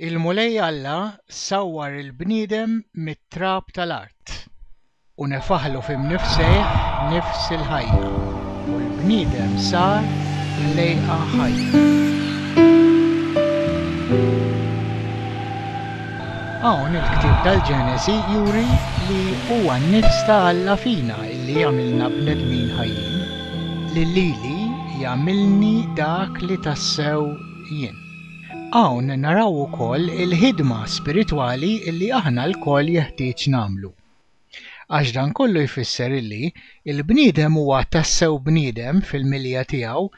Il-Mulej Alla sawwar il-bniedem mit-trab tal-art, u nefaħlu f'imnifsejh nifs il-ħajja, u l-bniedem sar ħlejqa ħajja. Hawn il-ktieb tal-Ġenesi juri li huwa n-nifs ta' Alla fina li jagħmilna bnedmin ħajjin, li lili jagħmilni dak li tassew jien. Hawn naraw ukoll il-ħidma spiritwali li aħna lkoll jeħtieġ nagħmlu. Għax dan kollu jfisser li l-bniedem huwa tassew bniedem fil-milja tiegħu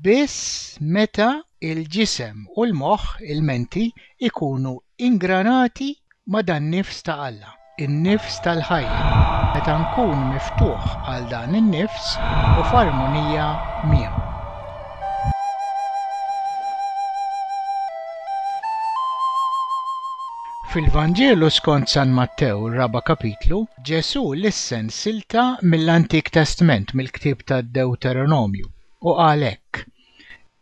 biss meta l-ġisem u l-moħħ, il-menti, ikunu Ingranati ma' dan-nifs ta' Alla, in-nifs tal-ħajja, meta nkun miftuħ għal dan in-nifs u f'armonija miegħu. Fil-Vanġelu skont San Mattew, ir-raba' kapitlu, Ġesù lissen silta mill-Antik Testment, mill-ktieb tad-Dewteronomju, u qal hekk,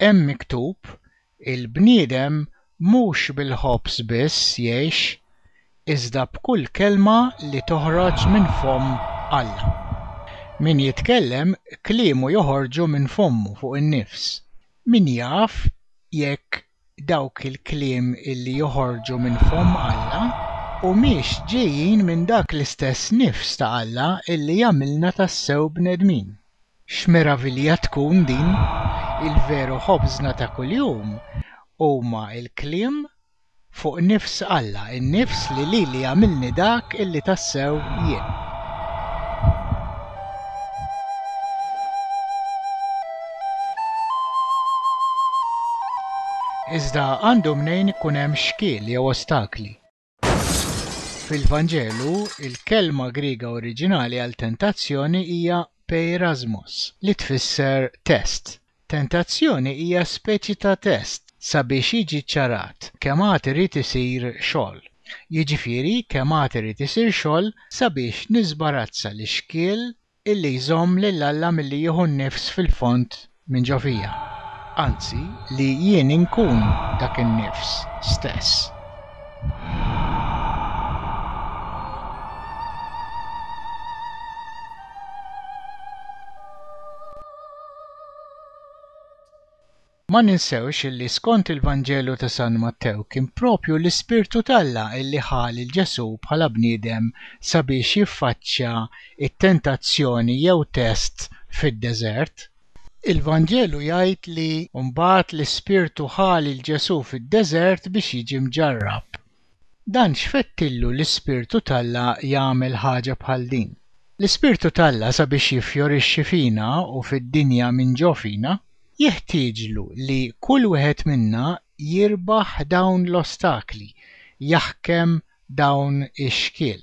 Hemm miktub, Il-bniedem mhux bil-ħobż biss jgħix, iżda b'kull kelma li toħroġ minn fomm Alla. Min jitkellem, kliemu joħorġu minn fommu fuq in-nifs. Min jaf jekk dawk il-kliem li joħorġu minn fomm Alla humiex ġejjin minn dak l-istess nifs ta' Alla li jagħmilna tassew bnedmin? X'meravilja tkun din! Il-veru ħobżna ta' kuljum huma l-kliem fuq nifs Alla, in-nifs li lili għamilni dak li tassew jien. Iżda għandu mnejn ikun hemm xkiel jew ostakli. Fil-Vanġelu, il-kelma Griega oriġinali għal tentazzjoni hija peirasmos, li tfisser test. Tentazzjoni hija speċi ta' test sabiex jiġi ċċarat kemm għad irid isir xogħol, jiġifieri kemm għad irid isir xogħol sabiex niżbarazza l-ixkiel illi jżomm lil Alla milli jieħu n-nifs fil-fond minn ġo fija, anzi li jien inkun dak in-nifs stess. Ma ninsewx illi skont il-Vanġelu ta' San Mattew kien proprju l-Ispirtu t'Alla illi ħa lil Ġesù bħala bniedem sabiex jiffaċċja t-tentazzjoni jew test fid-deżert. Il-Vanġelu jgħid li mbagħad l-Ispirtu ħa lil Ġesù fid-deżert biex jiġi mġarrab. Dan x'fettillu l-Ispirtu t'Alla jagħmel ħaġa bħal din? L-Ispirtu t'Alla sabiex jiffjorixxi fina u fid-dinja minn ġo fina, jeħtieġlu li kull wieħed minna jirbaħ dawn l-ostakli, jaħkem dawn ix-xkiel.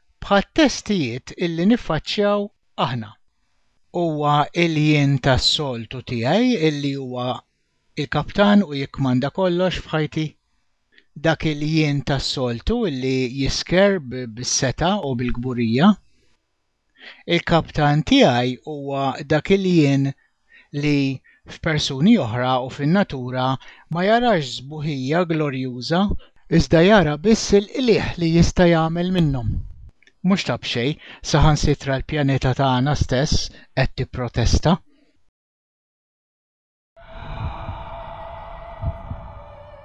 Bħat-testijiet illi niffaċċjaw aħna. Huwa l-jien tas-soltu tiegħi illi huwa l-kaptan u jikkmanda kollox f'ħajti? Dak il-jien tas-soltu illi jisker bis-setgħa u bil-kburija? Il-kaptan tiegħi huwa dak il-jien li, f'persuni oħra u fin-natura, ma jarax sbuħija glorjuża, iżda jara biss il-qligħ li jista' jagħmel minnhom, mhux ta' b'xejn, saħansitra l-pjaneta tagħna stess qed tipprotesta.